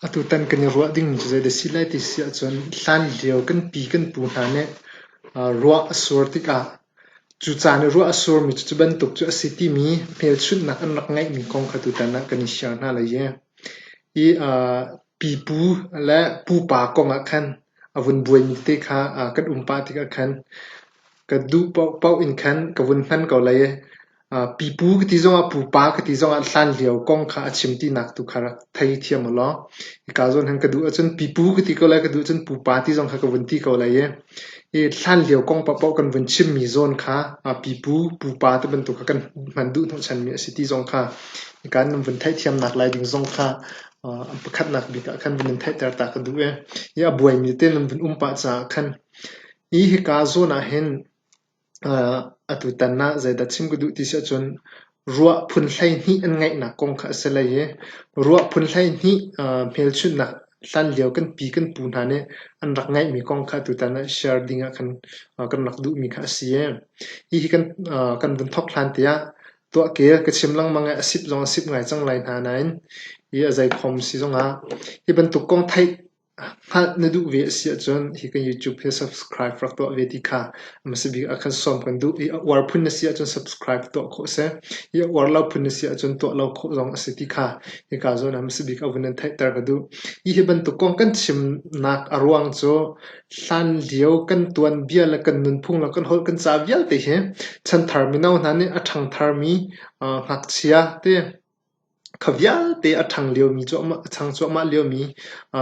Atutan kan i ruah ding cu zeidah a si lai ti si ahcun hlanlio kan pi kan pu hna nih ruah a sur tikah cu caan i ruah a surmi cucu bantuk cu a si timi hmelchunhnak an rak ngeihmi kong kha tutan ah kan i sial hna lai i pipu le pupa kongah khan A vun buaimi tete kha kan um pah tikah khan ka duh paoh in khan ka vun hman ko lai i pipu ka ti zongah pupa ka ti zongah hlanlio kong kha a chim tinak tu kha rak theithiam u law hika zawn khan ka duh ahcun pipu ka ti ko lai ka duh ahcun pupa ti zong kha ka vun ti ko lai i i hlanlio kong paoh kan vun chimmi zawn kha pipu pupa ti bantuk kha kan hman duh hnawhchanmi a si ti zong kha hika nan vun theithiamnak lai ding zong kha Pakhatnak bik ah khan vun in theihter ta ka duh i a buaimi te nan vun um pah caah khan hi hika zawn ah hin atutan ah zeidah chim ka duh ti si ahcun ruah phun hleihnih an ngeihnak kong kha a si lei i ruah phun hleihnih hmelchunhnak hlanlio kan pi kan pu hna nih an rak ngeihmi kong kha atutan ah share ding ah kan rak duhmi kha a si i hihi kan vun thawk hlan te ah Tuahkel ka chim lengmang i a sip zong a sip ngai cang lai hna nain hi a zeikhom si zongah hi bantuk kong theih hngalh na duh ve a si ahcun hi kan YouTube hi subscribe rak tuah ve ti kha a hmasa bik ah khan sawm kan duh i a uar phun na si ahcun subscribe tuah khawh a si i a uar lo phun na si ahcun tuah lo khawh zong a si ti kha hika zawn ah hmasa bik a vun in theihter ka duh. Hihi bantuk kong kan chimnak a ruang cu Hlan lio kan tuanbia le kan nunphung le kan holh kan ca vialte hi chanthar mino hna nih a ṭhangtharmi ngakchia te, kha vialte a ṭhang liomi cuahmah, a chang cuahmah liomi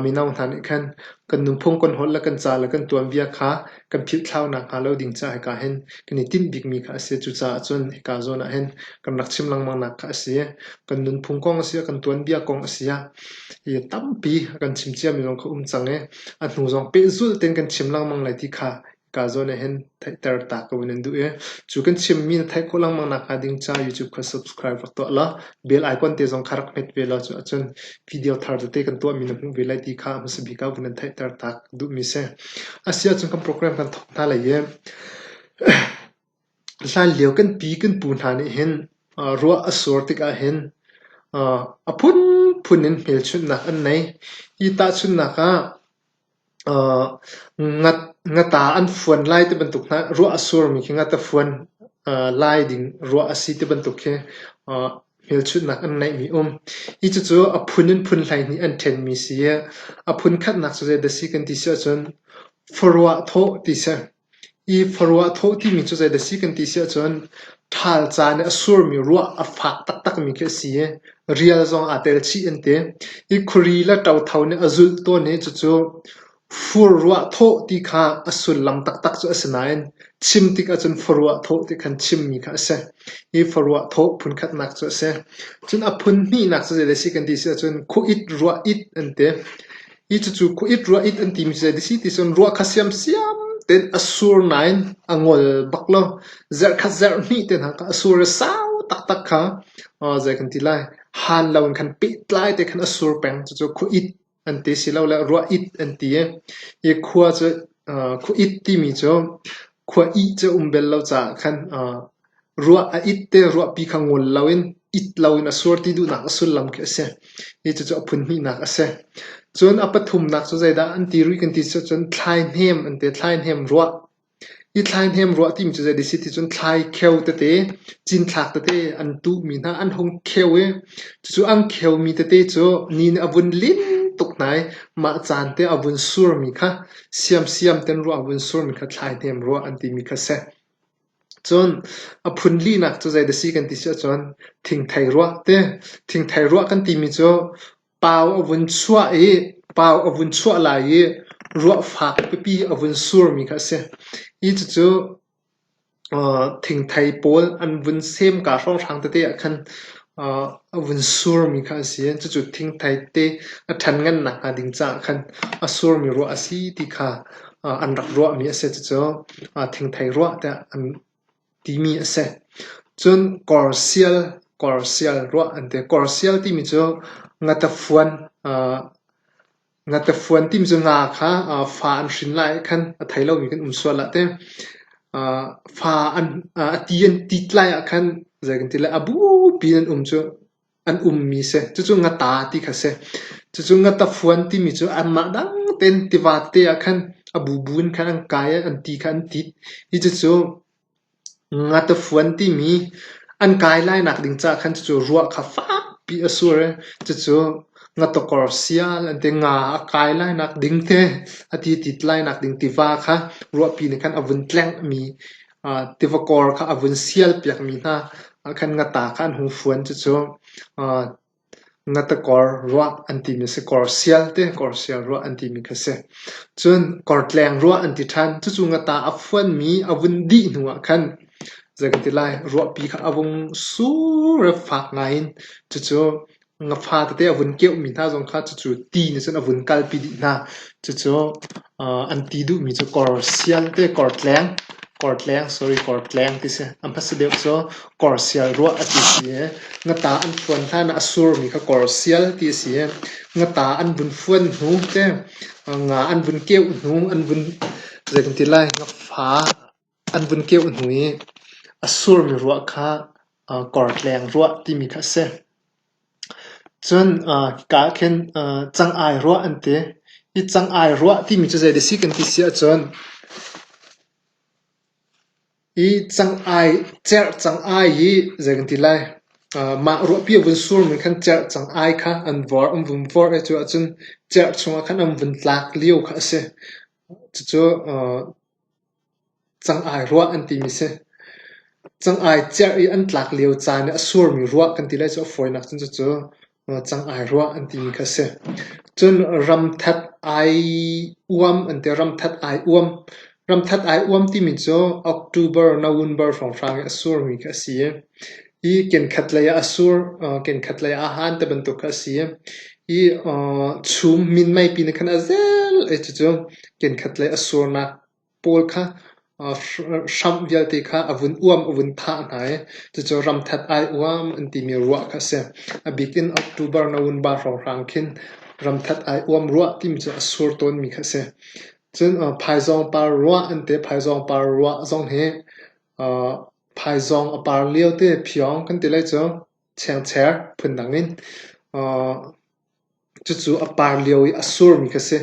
mino hna nih khan kan nunphung, kan holh le kan ca le kan tuanbia kha kan philhthlau nakhnga lo ding caah hika hin kan i tinh bikmi kha a si. Cucaah cun hika zawn ah hin kan rak chim lengmangnak kha a si. Kan nunphung kong a si, kan tuanbia kong a si. Hi tampi a kan chim ciami zong kha um cang i A hnu zong pehzulh tein kan chim lengmang lai ti kha ka zawn ah hin theihter ta ko nan duh i cu kan chimmi na theih khawh lengmang nakhnga ding ca YouTube kha subscribe rak tuah law bell icon te zong kha rak hmet ve law cun video thar tete kan tuahmi na hmuh ve lai ti kha hmasa bik ah vun nan theihter ta duhmi si. A si ahcun kan program kan thawk hna lai i Hlanlio kan pi kan pu hna nih hin ruah a sur tikah hin a phunphun in hmelchunhnak an nei. Hi tahchunhnak ah ngata an fuan lai ti bantuk hna ruah a surmi khi ngata fuan lai ding ruah a si ti bantuk khi hmelchunhnak an ngeihmi um. Hi cucu a phun in phun hleihnih an ṭhenmi si i a phun khatnak cu zeidah a si kan ti si ahcun, Khuaruah thawh ti si. I khuaruah thawh timi cu zeidah a si kan ti si ahcun ṭhal ca nih a surmi ruah a fak taktakmi khi a si i rial zong aa tel chih an ti. I khuri le ṭotho nih a zulh tawn i cucu furruah thawh ti kha a sullam taktak cu a si nain chim tik ahcun khuaruah thawh ti khan chimmi kha a si. Hi khuaruah thawh phunkhatnak cu a si. Cun a phun hnihnak cu zeidah a si kan ti si ahcun khuh-it, ruah-it an ti. Hi cucu khuait ruah it an timi cu a si ti cun ruah kha siamsiam tein a sur nain a ngol bak lo. Zarh khat zarh hnih te hna kha a sur a sau taktak kha zei kan ti lai han lo in khan pehtlai te khan a sur peng cucu khuait an ti silole ruah it an ti i hi khua cu khuait timi cu khua ih cu um bel lo caah khan Ruah a it te ruahpi kha ngol loin it loin a sur ti duhnak a sullam khi a si. Hi cucu a phunhnihnak a si. Cun a pathumnak cu zeidah an ti rih kan ti cu cun thlaihnem an ti. Thlaihnem ruah. Hi thlaihnem ruah timi cu zei a si ti cun thlaikheu tete, cinthlak tete an tuhmi hna an hung kheu i cucu an kheumi tete cu ni nih a vun lin tuk hna i mah caan te a vun surmi kha siamsiam ten ruah a vun surmi kha thlaihnem ruah an timi kha a si. Cun a phun linak cu zei dah a si kan ti si ahcun thingthei ruah ti. Thingthei ruah kan timi cu pau a vun chuah i pau a vun chuah lai i ruah fak pipi a vun surmi kha a si. Hi cucu thingthei pawl an vun semka hrawnghrang tete ahkhan A vun surmi kha a si i cucu thingthei te a ṭhanngannak hnga ding caah khan a surmi ruah a si ti kha an rak ruahmi a si. Cucu thingthei ruah tiah an timi a si. Cun korsial, korsial ruah an ti. Korsial timi cu ngatafuan Ngatafuan tim cu hna kha fa an hrin lai ah khan a thei lomi kan um sual ah teh fa a ti an tit lai ah khan zei kan ti lai a bupi in an um cu an ummi a si. Cucu ngata ti kha a si. Cucu ngatafuan timi cu anmah dangtein tiva te ah khan a bubu in khan an kai i an ti kha an tit. Hi cucu Ngatafuan timi an kai lai nak ding caah khan cucu ruah kha fakpi a sur i cucu ngatakor sial an ti. Nga a kai lai nak ding te a ti tit lai nak ding tiva kha ruahpi nih khan a vun tlengmi aa tiva kor kha a vun sial piak mi hna ah khan ngata kha an hung fuan. Cucu aa Na takor ruah an timi a si. Kor sial te kor sial ruah an timi kha a si. Cun kor tleng ruah an ti ṭhan. Cucu na ta a fuanmi a vun dih hnuah khan zei ka ti lai, ruahpi kha a vung sur i fak ngai in cucu nga fa tete a vun keuhmi hna zong kha cucu ti nih cun a vun kalpi dih hna. Cucu An ti duhmi cu kawr sial te kawr tleng, kawr tleng sorry kawr tleng ti si. An hmasa deuh cu kawr sial ruah a ti si i ngata an phuan hlan ah a surmi kha kawr sial ti a si i ngata an vun fuan hnu te nga an vun keuh hnu an vun zeitin ti lai ngakfa An vun keuh hnu i a surmi ruah kha kawrtleng ruah timi kha a si. Cun kaa ah khin cang-ai ruah an ti. Hi cang-ai ruah timi cu zei dih a si kan ti si ahcun hi cang-ai, cerh cang-ai hi zei kan ti lai mah ruahpi a vun surmi khan cerh cang-ai kha an vawr, an vun vawrh i cu ahcun cerh chungah khan an vun tlak lio kha a si. Cucu Cang-ai ruah an timi a si. Cang-ai cerh i an tlak lio caan i a surmi ruah kan ti lai cu a fawinak cun cucu cang-ai ruah an timi kha a si. Cun ramthat ai uam an ti. Ramthat ai uam. Ramthat ai uam timi cu October, November hrawnghrang i a surmi kha a si i Hi kenkhat lei ah a sur, kenkhat lei ah a han ti bantuk kha a si. Hi chum min meipi nih khan a zel i cucu kenkhat lei a surnak pawl kha hramh vialte kha a vun uam, a vun thah hna i cucu ramthat ai uam an timi ruah kha a si. A bik in October na vun baat hrawnghrang khin ramthat ai uam ruah timi cu a sur tawnmi kha a si. Cun phaizawng par ruah an ti. Phaizawng par ruah zong hi Phaizawng a par lio te phiawng kan ti lai cu. Chengchek phundang in cucu a par lio i a surmi kha a si.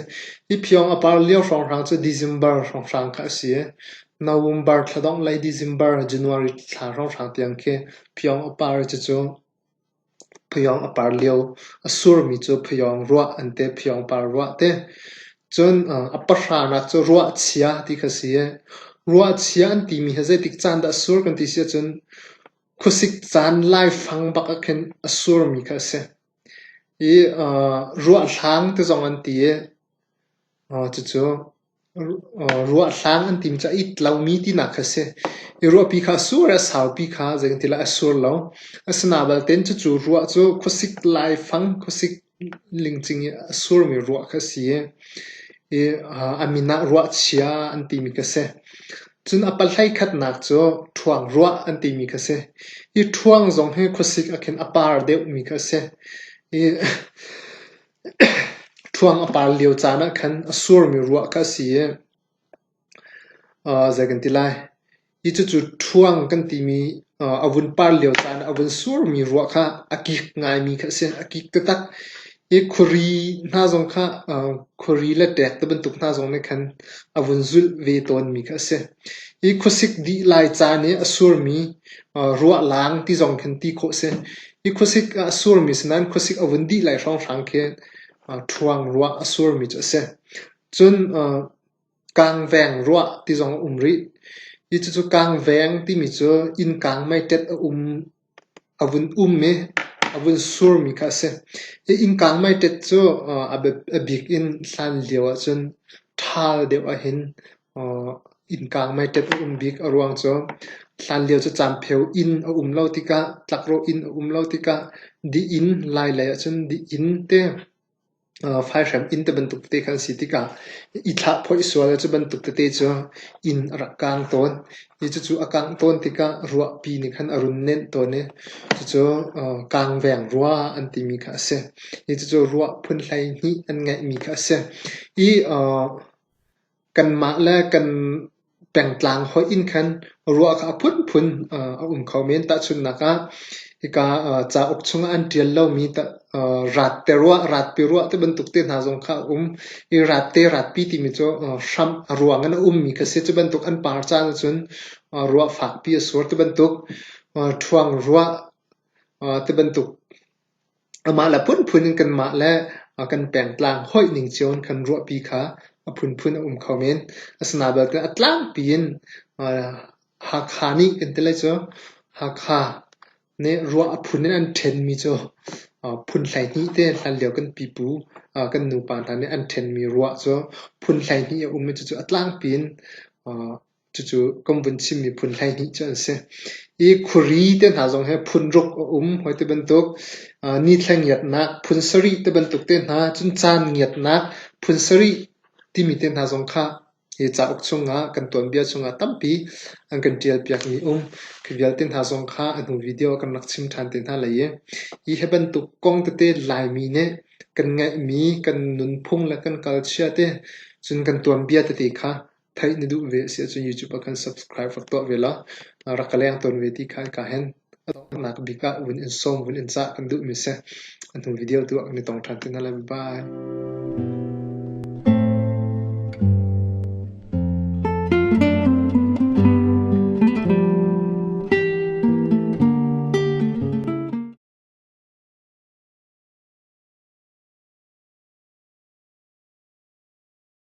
Hi phiawng a par lio hrawnghrang cu December hrawnghrang kha a si i November thla dongh lei December, January thla hrawnghrang tiang khi phiawng a par i cucu Phayawng a par lio a surmi cu phayawng ruah an ti. Phayawng par ruah ti. Cun a pahranak cu ruahchia ti kha a si i, ruahchia an timi hi zeitik caan dah a sur kan ti si ahcun khuasik caan laifang bak ah khin a surmi kha a si. I ruahhlang ti zong an ti i, cucu Ruahhlang an tim caah it lomi tinak kha a si. I ruahpi kha a sur i a saupi kha zeitin ti lai a sur lo. Asinain balte cucu ruah cu khuasik laifang, khuasik lingcing i a surmi ruah kha a si i a min ah ruahchia an timi kha a si. Cun a palhlei khatnak cu ṭhuangruah an timi kha a si. Hi ṭhuang zong hi khuasik ah khin a par deuhmi kha a si. Ṭhuang a par lio caan ah khan a surmi ruah kha a si i zei kan ti lai, hi cucu ṭhuang kan timi a vun par lio caan ah a vun surmi ruah kha a kik ngaimi kha a si. A kik taktak. Hi khuari hna zong kha khuari le ṭek tibantuk hna zong nih khan a vun zulh ve tawnmi kha a si. Hi khuasik dih lai caan i a surmi ruahlang ti zong khin ti khawh a si. Hi khuasik ah a surmi si nain khuasik a vun dih lai hrawnghrang khi ṭhuangruah a surmi cu a si. Cun kangveng ruah ti zong a um rih. Hi cucu kangveng timi cu innkang meiṭet a um. A vun um i a vun surmi kha a si. Hi innkang meiṭet cu a bik in hlan lio ahcun ṭhal deuh ahhin innkang meiṭet a um bik. A ruang cu hlan lio cu caanpheo inn a um lo tikah, tlakrawh inn a um lo tikah, dih in, lai lei ahcun dih inn te Faihhrem inn te bantuk tete kha an si tikah i thlahphoih sual le cubantuk tete cu inn a rak kang tawn i cucu a kangh tawn tikah ruahpi nih khan a run nenh tawn i cucu kangveng rua an timi kha a si. Hi cucu ruah phun hleihnih an ngeihmi kha a si. Hi kanmah le kan pengtlang hoih in khan ruah kha a phunphun a um kho men. Tahchunhnak ah, hika cauk chungah an ṭial lomi ratte ruah, ratpi ruah ti bantuk te hna zong kha a um i ratte, ratpi timi cu hramh a ruang in a ummi kha a si. Cu bantuk an par caan ahcun ruah fakpi a sur ti bantuk, ṭhuang ruah ti bantuk Amah le phunphun in kanmah le kan pengtlang hoih ning cio in kan ruahpi kha a phunphun a um kho men. Asinain belte a tlangpi in Hakha nih kan ti lai cu Hakha nih ruah a phun in an ṭhenmi cu phun hleihnih te hlanlio kan pipu kan nupa hna nih an ṭhenmi ruah cu phun hleihnih a um i cucu a tlangpi in Cucu kan vun chim mi phun hleihnih cu an si. I khuari te hna zong hi phun ruk a um. Hawi ti bantuk aa nithla ngiatnak phun sarih te bantuk te hna, cun caan ngiatnak phun sarih timi te hna zong kha hi cauk chungah kan tuanbia chungah tampi an kan ṭialpiak mi um. Khi vialte hna zong kha a hnu video ah kan rak chim ṭhan te hna lai i hi hi bantuk kong tete Laimi nih kan ngaih mi, kan nunphung le kan culture te cun kan tuanbia tete kha Theih na duh ve a si ahcun YouTube ah khan subscribe rak tuah ve law na rak ka leng tawn ve ti kha ka hen. A donghnak bik ah vun in sawm vun in cah kan duhmi si. A hnu video tu ah kan i tong ṭhan te hna lai. Bye.